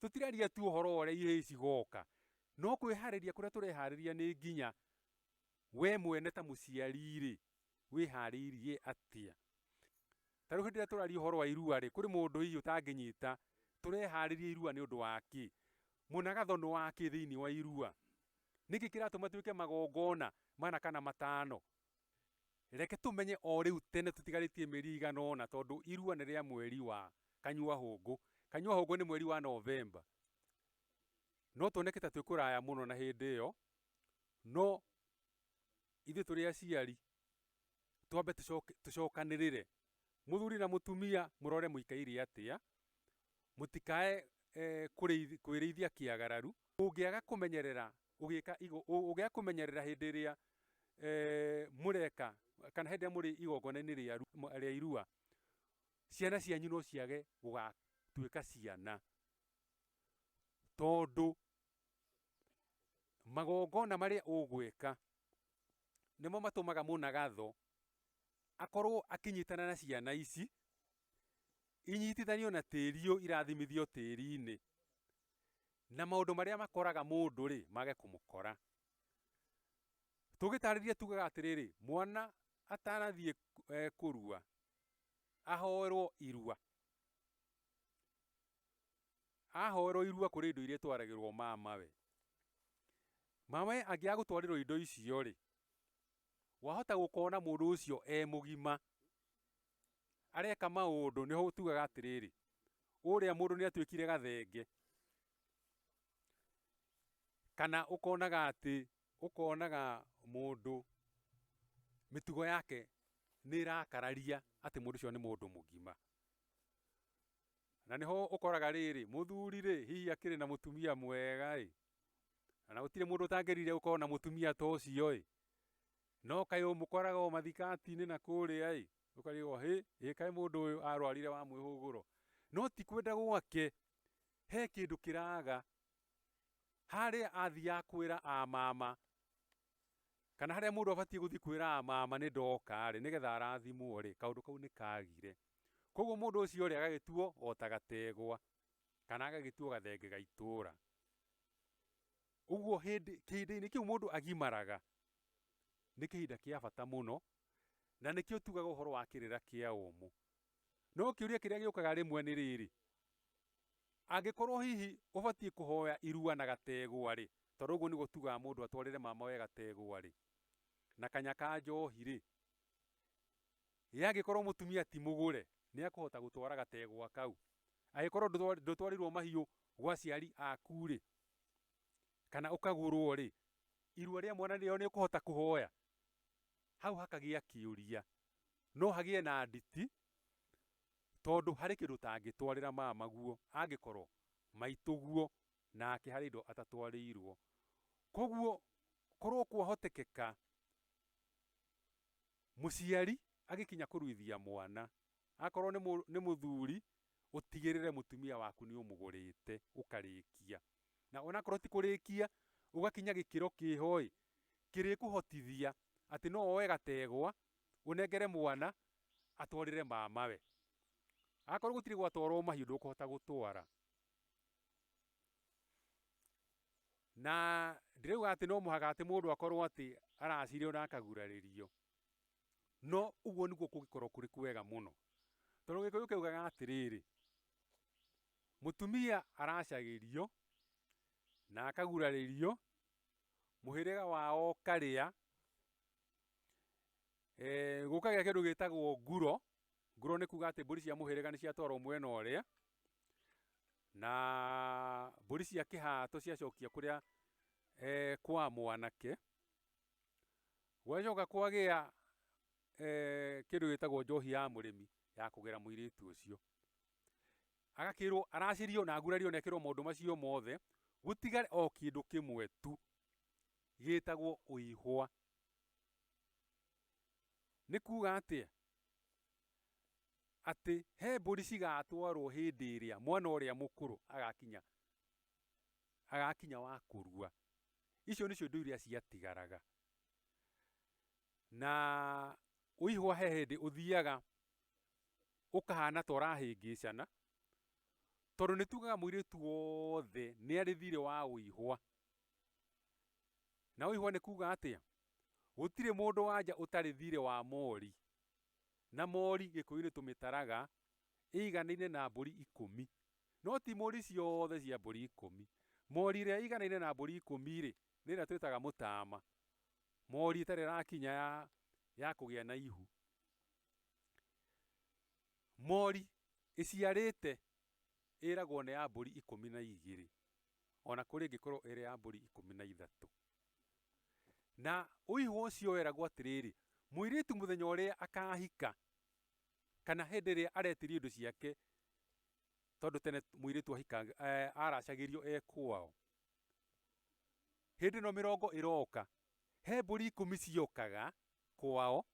tũtiraria tu ũhoro wa ũrĩa ihĩĩ cigoka, no kwĩharĩria kũrĩa tũreharĩria nĩ nginya. We mwene ta mũciari-rĩ, wĩharĩirie atĩa? Ta rĩu hĩndĩ ĩrĩa tũraria ũhoro wa irua-rĩ, kũrĩ mũndũ hihi ũtangĩnyita, tũreharĩria irua nĩ ũndũ wa kĩ? Mũnagatho nĩ wa kĩ thĩiniĩ wa irua? Nĩkĩ kĩratũma twĩke magongona mana kana matano? Reke tũmenye o rĩu tene tũtigarĩtie mĩeri ĩigana ũna tondũ irua nĩ rĩa mweri wa Kanyua-hũngũ. Kanyua-hũngũ nĩ mweri wa Novemba. No tuoneke ta twĩ kũraya mũno na hĩndĩ ĩyo, no ithuĩ tũrĩ aciari twambe tũcokanĩrĩre, mũthuri na mũtumia mũrore mũikaire atĩa, mũtikae kwĩrĩithia kĩagararu. Ũngĩaga kũmenyerera Ũgĩka igo, ũ- ũgĩa kũmenyerera hĩndĩ ĩrĩa eh, mũreka kana hĩndĩ ĩrĩa mũrĩ igongona-inĩ rĩa ru- mwa- rĩa irua ciana cianyu no ciage gũgatuĩka ciana tondũ magongona marĩa ũgwĩka nĩmo matũmaga mũnagatho akorwo akĩnyitana na ciana ici inyitithanio na tĩri ũyũ irathimithio tĩri-inĩ Na maũndũ marĩa makoraga mũndũ-rĩ, mage kũmũkora. Tũgĩtaarĩria tugaga atĩrĩrĩ, mwana atanathiĩ kũrua, ahoerwo irua. Ahoerwo irua kũrĩ indo iria itwaragĩrwo mamawe. Mamawe angĩaga gũtwarĩrwo indo icio-rĩ, wahota gũkona mũndũ ũcio e mũgima, areka maũndũ, nĩho ũtugaga atĩrĩrĩ, ũrĩa mũndũ nĩ atuĩkire gathenge. Kana ũkonaga atĩ, ũkonaga mũndũ mĩtugo yake nĩ ĩrakararia atĩ mũndũ ũcio nĩ mũndũ mũgima. Na nĩho ũkoraga rĩrĩ, mũthuri rĩ, hihi akĩrĩ na mũtumia mwega ĩ, na gũtirĩ mũndũ ũtangĩrire gũkorwo na mũtumia ta ũcio ĩ, No kaĩ ũmũkoraga o mathikaati-inĩ na kũũrĩa-ĩ! Ũkariũgwo, Hĩ! Ĩ kaĩ mũndũ ũyũ arwarire wa mwĩhũgũro? No ti kwenda gwake, he kĩndũ kĩraaga harĩa athiaga kwĩra a mama, kana harĩa mũndũ abatiĩ gũthiĩ kwĩra a mama nĩ ndoka-rĩ, nĩgetha arathimwo-rĩ, kaũndũ kau nĩ kaagire. Kũoguo mũndũ ũcio-rĩ, agagĩtuo o ta gategwa, kana agagĩtuo gathenge ga itũũra. Ũguo hĩndĩ, kĩhindĩ-inĩ kĩu mũndũ agimaraga. nĩ kĩhinda kĩa bata mũno, na nĩkĩo tugaga ũhoro wa kĩrĩra kĩa ũmũ. No kĩũria kĩrĩa gĩũkaga rĩmwe nĩ rĩrĩ, angĩkorwo hihi ũbatiĩ kũhoya irua na gategwa-rĩ, tondũ ũguo nĩguo tugaga mũndũ atwarĩre mamawe gategwa-rĩ, na kanya ka njohi-rĩ, ĩ angĩkorwo mũtumia ti mũgũre, nĩekũhota gũtwara gategwa kau? Angĩkorwo ndũtwarĩirwo mahiũ gwa aciari aku-rĩ, kana ũkagũrwo rĩ, irua rĩa mwana rĩo nĩ ũkũhota kũhoya? Hau hakagĩa kĩũria. No hagĩe na nditi, tondũ harĩ kĩndũ ũtangĩtwarĩra mama guo angĩkorwo maitũ guo nake harĩ indo atatwarĩirwo. Koguo korwo kwahotekeka mũciari agĩkinya kũruithia mwana, Akorwo nĩ mũ, nĩ mũthuri, ũtigĩrĩre mũtumia waku nĩ ũmũgũrĩte, ũkarĩkia. Na onakorwo ti kũrĩkia, ũgakinya gĩkĩro kĩho-ĩ, kĩrĩkũhotithia atĩ no woe gategwa, ũnengere mwana, atwarĩre mamawe. Akorwo gũtirĩ gwatwarwo mahiũ ndũkũhota gũtwara. Na ndirauga atĩ no mũhaka atĩ mũndũ akorwo atĩ aracirĩo na akagurarĩrio. No ũguo nĩguo kũngĩkorwo kũrĩ kwega mũno. Tondũ gĩkũyũ kĩaugaga atĩrĩrĩ, mũtumia aracagĩrio na akagurarĩrio, mũhĩrĩga wao ũkarĩa, eh, gũkagĩa kĩndũ gĩtagwo nguro, nguro nĩ kuga atĩ mbũri cia mũhĩrĩga nĩ ciatwarwo mwena ũrĩa, na mbũri cia kĩhato ciacokia kũrĩa eh, kwa mwanake. Gũgagĩcoka kwagĩa kĩndũ gĩtagwo njohi ya mũrĩmi ya kũgera mũirĩtu ũcio. Agakĩrwo aracĩrio na agurario na ekĩrwo maũndũ macio mothe, gũtigare o kĩndũ kĩmwe tu gĩtagwo ũihwa. Nĩ kuga atĩa? Atĩ he mbũri cigatwarwo hĩndĩ ĩrĩa mwana ũrĩa mũkũrũ agakinya agakinya wa kũrua. Icio nĩcio indo iria ciatigaraga. Na ũihwa he hĩndĩ ũthiaga ũkahana ta ũrahĩngĩcana, tondũ nĩ tugaga mũirĩtu wothe nĩ arĩ thirĩ wa ũihwa. Na ũihwa nĩ kuga atĩa? Gũtirĩ mũndũ wa nja ũtarĩ thirĩ wa mori, na mori gĩkũyũ-inĩ tũmĩtaraga ĩiganaine na mbũri ikũmi. No ti mũri ciothe cia mbũri ikũmi. Mori ĩrĩa ĩiganaine na mbũri ikũmi-rĩ, nĩ ĩrĩa twĩtaga mũtaama, mori ĩtarĩ ĩrakinya ya ya kũgĩa na ihu. Mori ĩciarĩte ĩragwo nĩ ya mbũri ikũmi na igĩrĩ, o na kũrĩ ĩngĩkorwo ĩrĩ ya mbũri ikũmi na ithatũ. Na ũihũ ũcio weragwo atĩrĩrĩ, mũirĩtu mũthenya ũrĩa akahika, kana hĩndĩ ĩrĩa aretirio indo ciake, tondũ tene mũirĩtu ahikanga, eh, aracagĩrio e kwao. Hĩndĩ ĩno mĩrongo ĩroka, he mbũri ikũmi ciokaga kwao,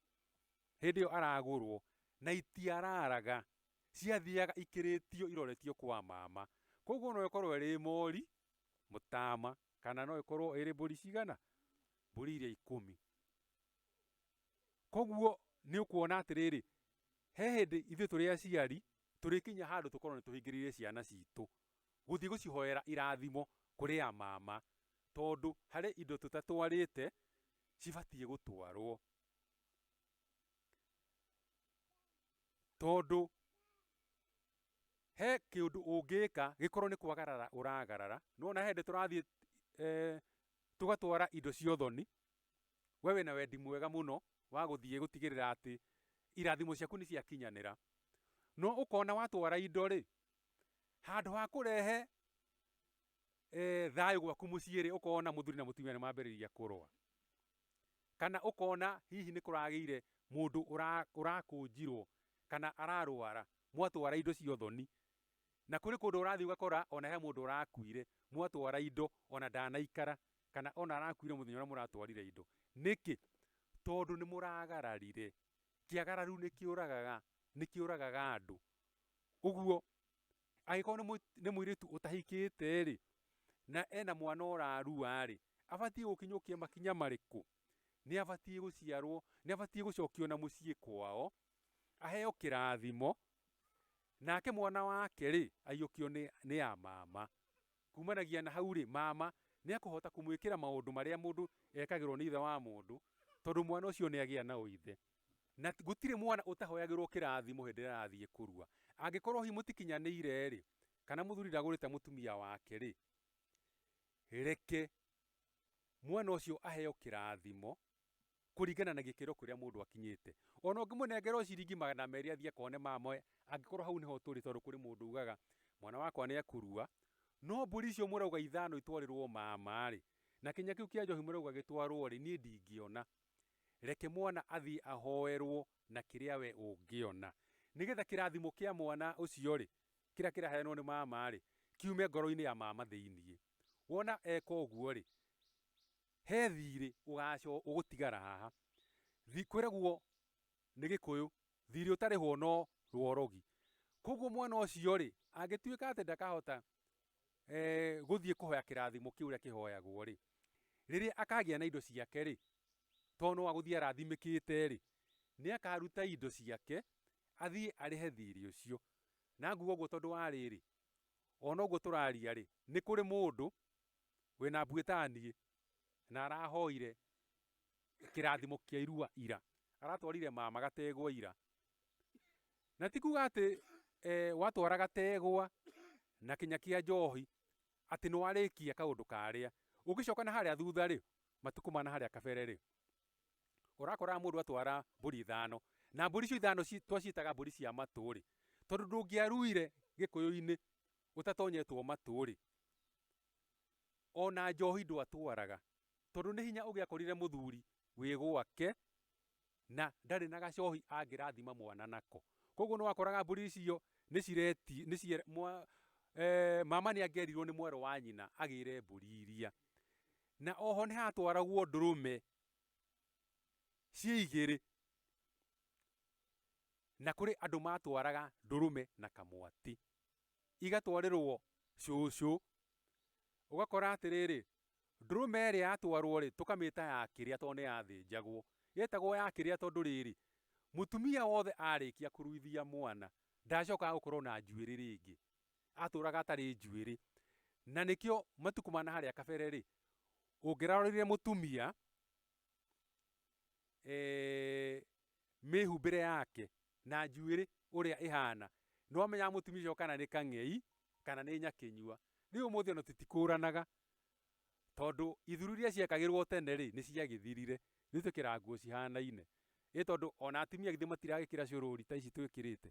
hĩndĩ ĩyo aragũrwo, na itiararaga, ciathiaga ikĩrĩtio iroretio kwa mama. Koguo no ĩkorwo ĩrĩ mori, mũtama, kana no ĩkorwo ĩrĩ mbũri cigana? Mbũri iria ikũmi. Koguo nĩ ũkuona atĩrĩrĩ, he hĩndĩ ithuĩ tũrĩ aciari tũrĩkinya handũ tũkorwo nĩ tũhingĩrĩire ciana citũ gũthiĩ gũcihoera irathimo kũrĩ a mama, tondũ harĩ indo tũtatwarĩte cibatiĩ gũtwarwo. Tondũ he kĩũndũ ũngĩka gĩkorwo nĩ kwagarara ũragarara, nĩ wona he hĩndĩ tũrathiĩ tũgatwara indo cia ũthoni we wĩna wendi mwega mũno wa gũthiĩ gũtigĩrĩra atĩ irathimo ciaku nĩ ciakinyanĩra. No ũkona watwara indo rĩ, handũ ha kũrehe e, thayũ gwaku mũciĩ rĩ, ũkona mũthuri na mũtumia nĩ mambĩrĩria kũrũa. Kana ũkona hihi nĩ kũragĩire mũndũ ũra- ũrakũnjirwo kana ararwara, mwatwara indo cia ũthoni Na kũrĩ kũndũ ũrathiĩ ũgakora o na he mũndũ ũrakuire, mwatwara indo, o na ndanaikara, kana o na arakuire mũthenya ũrĩa mũratwarire indo. Nĩkĩ? Tondũ nĩ mũragararire. Kĩagararu nĩ kĩũragaga, nĩ kĩũragaga andũ. Ũguo, angĩkorwo nĩ mũirĩtu ũtahikĩte-rĩ, na e na mwana ũrarua-rĩ, abatiĩ gũkinyũkia makinya marĩkũ? Nĩ abatiĩ gũciarwo, nĩ abatiĩ gũcokio na mũciĩ kwao, aheo kĩrathimo, nake mwana wake rĩ, aiyũkio nĩ, nĩ ya mama. Kumanagia na hau rĩ, mama nĩ ekũhota kũmwĩkĩra maũndũ marĩa mũndũ ekagĩrwo nĩ ithe wa mũndũ, tondũ mwana ũcio nĩ agĩa na ũithe. Na gũtirĩ mwana ũtahoyagĩrwo kĩrathimo hĩndĩ ĩrĩa arathiĩ kũrua. Angĩkorwo hihi mũtikinyanĩire rĩ, kana mũthuri ndagũrĩte mũtumia wake rĩ, reke mwana ũcio aheo kĩrathimo, kũringana na gĩkĩro kĩrĩa mũndũ akinyĩte. O na ũngĩmũnengera o ciringi magana merĩ athiĩ akone mama angĩkorwo hau nĩho tũrĩ tondũ kũrĩ mũndũ ugaga mwana wakwa nĩ ekũrua, no mbũri icio mũrauga ithano itwarĩrwo mama-rĩ, na kĩnya kĩu kĩa njohi mũrauga gĩtwarwo-rĩ, niĩ ndingĩona. Reke mwana athiĩ ahoerwo na kĩrĩa wee ũngĩona, nĩgetha kĩrathimo kĩa mwana ũcio-rĩ, kĩrĩa kĩraheanwo nĩ mama-rĩ, kiume ngoro-inĩ ya mama thĩiniĩ. Wona eka ũguo-rĩ, He thiirĩ ũgaaco ũgũtigara haha. Thi kwĩragwo nĩ Gĩkũyũ, thiirĩ ũtarĩhwo no rworogi. Kwoguo mwana ũcio-rĩ, angĩtuĩka atĩ ndakahota gũthiĩ kũhoya kĩrathimo kĩu ũrĩa kĩhoyagwo-rĩ, rĩrĩa akagĩa na indo ciake-rĩ, to no agũthiĩ arathimĩkĩte-rĩ, nĩ akaruta indo ciake athiĩ arĩhe thiirĩ ũcio. Na nguga ũguo tondũ wa rĩrĩ, o na ũguo tũraria-rĩ, nĩ kũrĩ mũndũ wĩna mbuĩ ta niĩ na arahoire kĩrathimo kĩa irua ira, aratwarire mama gategwa ira, na ti kuga atĩ e, watwara gategwa na kinya kĩa njohi atĩ nĩ warĩkia kaũndũ karĩa ũngĩcoka na harĩa thutha rĩ matukũ ma na harĩa kabere rĩ ũrakoraga mũndũ atwara mbũri ithano na mbũri icio ithano ci- twacitaga mbũri cia matũ rĩ tondũ ndũngĩaruire gĩkũyũ-inĩ ũtatonyetwo matũ rĩ Ona njohi ndwatwaraga tondũ nĩ hinya ũgĩakorire mũthuri wĩ gwake na ndarĩ na gacohi angĩrathima mwana nako. Koguo nĩ wakoraga mbũri icio nĩ cireti, nĩ cie, mwa, e, mama nĩ angĩerirwo nĩ mwarĩ wa nyina agĩre mbũri iria. Na oho nĩ hatwaragwo ndũrũme ciĩ igĩrĩ na kũrĩ andũ matwaraga ndũrũme na kamwatĩ. igatwarĩrwo cũcũ, ũgakora atĩrĩrĩ, ndũrũme ĩrĩa yatwarwo rĩ, tũkamĩta ya kĩrĩa tondũ nĩ yathĩnjagwo. Yetagwo ya kĩrĩa tondũ rĩrĩ, mũtumia wothe arĩkia kũruithia mwana, ndacokaga gũkorwo na njuĩrĩ rĩngĩ. Atũraga atarĩ njuĩrĩ. Na nĩkĩo matukũ ma na harĩa kabere rĩ, ũngĩrarorire mũtumia, eh, mĩhumbĩre yake na njuĩrĩ ũrĩa ĩhana nĩ wamenyaga mũtumia ũcio kana nĩ kang'ei kana nĩ nyakĩnyua rĩu ũmũthĩ ona tũtikũranaga tondũ ithuru iria ciekagĩrwo tene rĩ nĩ ciagĩthirire nĩ twĩkĩraga nguo cihanaine ĩ tondũ ona atumia githĩ matiragĩkĩra cũrũri ta ici twĩkĩrĩte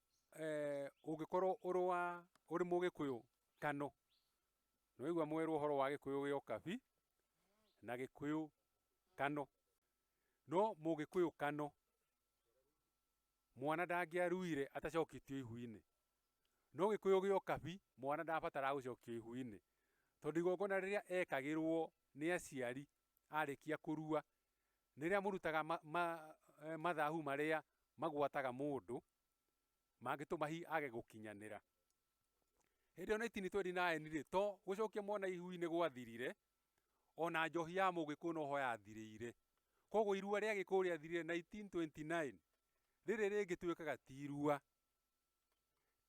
eh, ũngĩkorwo ũrĩ wa ũrĩ mũgĩkũyũ kano nĩwaigua mwerwo ũhoro wa gĩkũyũ gĩa ũkabi na gĩkũyũ kano no mũgĩkũyũ kano mwana ndangĩaruire atacokitio ihu-inĩ no gĩkũyũ gĩa ũkabi mwana ndabataraga gũcokio ihu-inĩ tondũ igongona rĩrĩa ekagĩrwo nĩ aciari arĩkia kũrua Rĩrĩa mũrutaga mathahu marĩa magwataga mũndũ mangĩtũma hihi age gũkinyanĩra. Hĩndĩ ĩyo Naitini Twendi Naĩni rĩ, to gũcokia mwana ihu-inĩ gwathirire, ona njohi ya Mũgĩkũyũ no ho yathirĩire. Koguo irua rĩa Gĩkũyũ rĩathirire Naitini Twendi Naĩni, rĩrĩ rĩngĩtuĩkaga ti irua.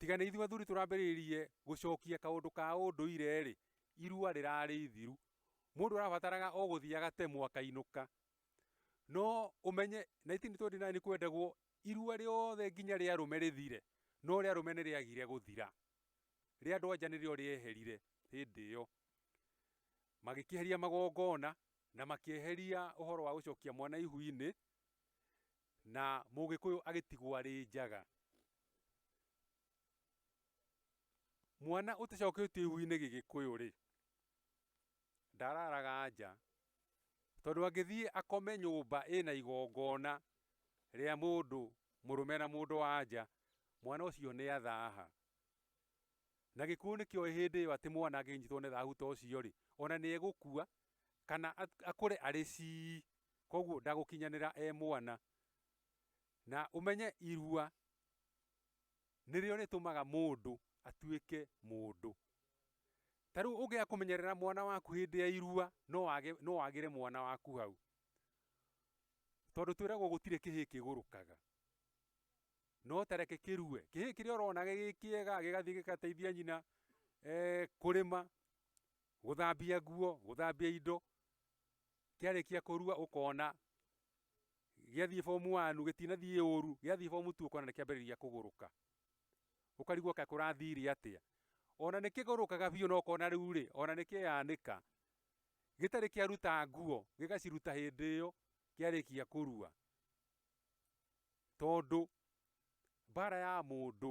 Tiga nĩ ithuĩ athuri tũrambĩrĩirie gũcokia kaũndũ ka ũndũire-rĩ, irua rĩrarĩ ithiru. Mũndũ arabataraga o gũthiĩ agatemwo akainũka. No ũmenye 1929 kwendagwo irua rĩothe nginya rĩa arũme rĩthire, no rĩa arũme nĩ rĩagire gũthira. Rĩa andũ anja nĩrĩo rĩeherire hĩndĩ ĩyo. Magĩkĩeheria magongona na makĩeheria ũhoro wa gũcokia mwana ihu-inĩ, na mũgĩkũyũ agĩtigwo arĩ njaga. Mwana ũtacoketio ihu-inĩ gĩgĩkũyũ-rĩ, ndararaga nja, tondũ angĩthiĩ akome nyũmba ĩna igongona rĩa mũndũ mũrũme na mũndũ wa nja, mwana ũcio nĩ athaha. Na gĩkuũ nĩkĩoĩ hĩndĩ ĩyo atĩ mwana angĩnyitwo nĩ thahu ta ũcio-rĩ, ona nĩ egũkua kana akũre arĩ cii, koguo ndagũkinyanĩra e mwana. Na ũmenye irua nĩrĩo rĩtũmaga mũndũ atuĩke mũndũ. Ta rĩu ũngĩaga kũmenyerera mwana waku hĩndĩ ya irua, no wage, no wagĩre mwana waku hau. Tondũ twĩragwo gũtirĩ kĩhĩĩ kĩgũrũkaga. No ta reke kĩrue. Kĩhĩĩ kĩrĩa ũrona gĩ kĩega gĩgathiĩ gĩgateithia nyina eh, kũrĩma, Gũthambia nguo, gũthambia indo, kĩarĩkia kũrua ũkona gĩathiĩ form one gĩtinathiĩ ũru, gĩathiĩ form two ũkona nĩkĩambĩrĩria kũgũrũka, ũkarigwo kaĩ kũrathire atĩa, ona nĩkĩgũrũkaga biũ na ũkona rĩu rĩ, ona nĩkĩyanĩka, gĩtarĩ kĩaruta nguo, gĩgaciruta hĩndĩ ĩyo kĩarĩkia kũrua, tondũ mbara ya mũndũ